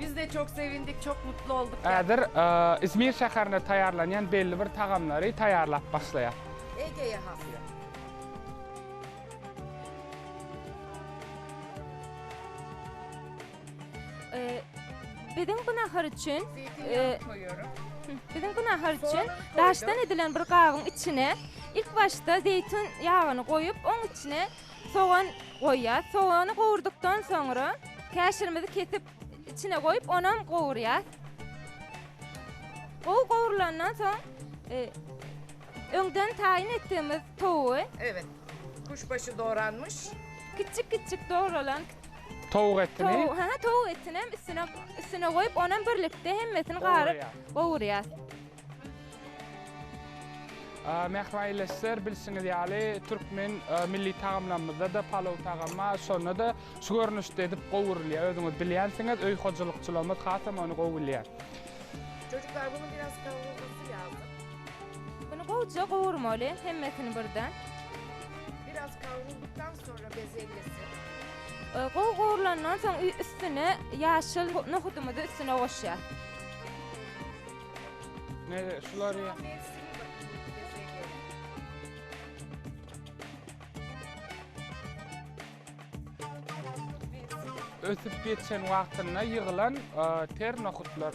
Biz de çok sevindik, çok mutlu olduk. Häzir e, İzmir şäherinde taýýarlanýan belli bir tagamlary taýýarlap başlaýar. Ege'ye has. Ee, Biziň bu nahar üçin Zeytinyağı koyuyorum. Biziň bu nahar üçin Soğan koydum. daşdan edilen bir gabyň içine ilk başda zeytin ýagyny goýup, oň içine Sogan goýýas. Sogany gowurdykdan soňra käşirimizi kesip içine goýup onam gowurýas. Gowy gowrulandan soň e, öňden taýyn etdigimiz towugy Evet. Kuşbaşy doğranmış. kiçik kiçik dogrulan Towuk etini towuk, ha towuk etini hem üstüne üstüne goýup onam birlikde hemmesini garyp Gowurýas. gowurýas. Mähraýleşler, bilşiňiz ýaly, türkmen milli tagamlarymyzda-da palow tagamy bar, şonda-da şu görnüşde edip gowurylýar. Özüňiz bilýänsiňiz, öý hojalykçylarymyz hasam ony gowy bilýär. Çocuklar, bunu biraz kavurmasy lazım. Bunu gowja gowurmaly, hemmesini birden. Biraz kavrulduktan sonra bezelyesi. Gowy gowrulandan soň üstüne ýaşyl nohudymyzy üstüne goşýas. Nere şular ya? Ösüp geçen wagtynda ýygylan e, ter nohutlar.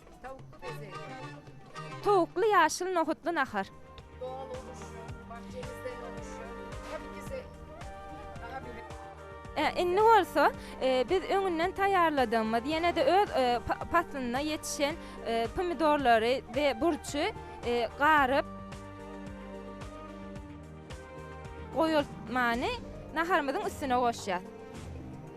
Tawukly bezeg. Towukly ýaşyl nohutly nahar. Dogly uruşyň, bahçemizde uruşyň. Tabi ki se Aha bile. E, indi bolsa e, biz öňünden taýýarladygymyz, ýene-de öz e, pa- paslynda ýetişen e, pomidorlary we burçy e, garyp goýulmany naharymyzyň üstüne goşýarys.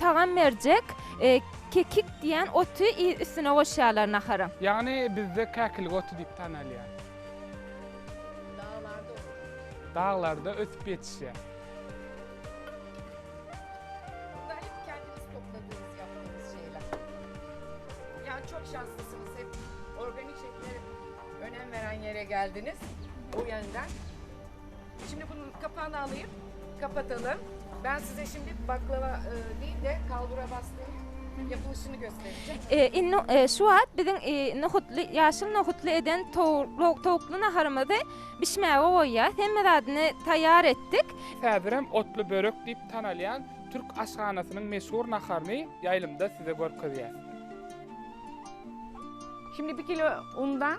Tagam berjek kekik diýen oty üstüne goşýarlar nahara. Ýagny bizde käkilik oty diýip tanalýar. Daglarda ösüp ýetişýär. Şimdi bunun kapağını alayım. Kapatalım. Ben size şimdi baklava e, değil de kalbura bastığın yapılışını göstereceğim. E, indi e, şu wagt biziň e, nohutly, ýaşyl nohutly eden towuk- towukly naharymyzy bişmäge goýýarys. Hemme zadyny taýýar etdik. Häzirem otly börek diýip tanalýan türk aşhanasynyň meşhur naharyny ýaýlymda size görkezýäs. Şimdi bir kilo undan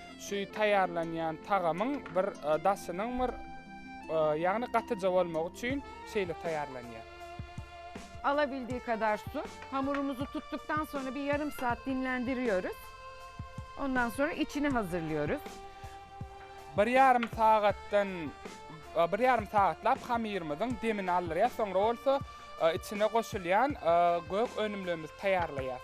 Şu taýýarlanýan tagamyň bir daşynyň bir ýagny gatyja bolmagy üçin şeýle taýýarlanýar. Alabildiği kadar su. Hamurumuzu tuttuktan sonra bir yarım saat dinlendiriyoruz. Ondan sonra içini hazırlıyoruz. Bir yarım sagatdan bir yarım sagatlap hamyrymyzyň demini aldyrýas, soňra bolsa içine goşulýan gök önümlerimizi taýýarlaýas.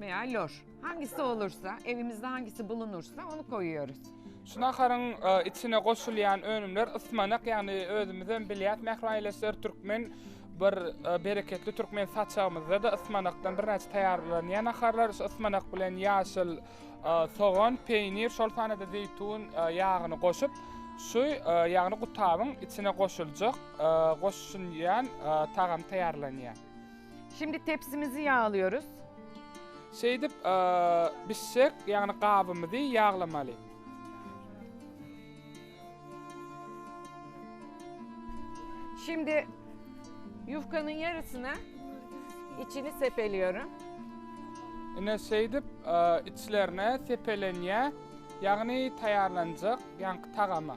Veya loş. Hangisi olursa, evimizde hangisi bulunursa onu koyuyoruz. Şu naharyň içine goşulýan önümler ysmanak, ýagny özümizem bilýäs, mähri aýyleşler türkmen bir bereketli türkmen saçagymyzda-da ysmanakdan birnäçe taýýarlanýar naharlar. Şu ysmanak bilen ýaşyl sogan, peýnir, şol sanda-da zeýtun ýagyny goşup, şu ýagny gutabyň içine goşuljak, goşulýan tagam taýýarlanýar. Şimdi tepsimizi yağlıyoruz. Şeýdip bişjek, ýagny gabymyzy ýaglamaly. Şimdi yufkanın yarısına içini sepeliyorum. Ine şeýdip içlerine sepelenýä, ýagny taýýarlanjak ýaňky tagama.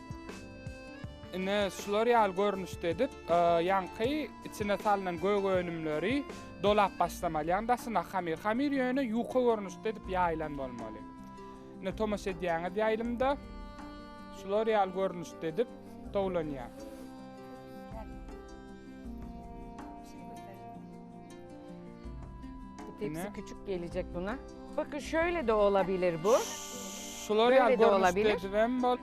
Ine, şular ýaly görnüşde edip, ýaňky içine salnan gök önümleri dolap başlamaly. Ýagny daşyna hamir. Hamir ýöne ýuka görnüşde edip ýaýylan bolmaly. Ine, tomaşa edýäňiz ýaýlymda şular ýaly görnüşde edip towlanýar. Tepsi küçük gelecek buna. Bakın şöyle de olabilir bu. Şular ýaly görnüşde edip hem bol.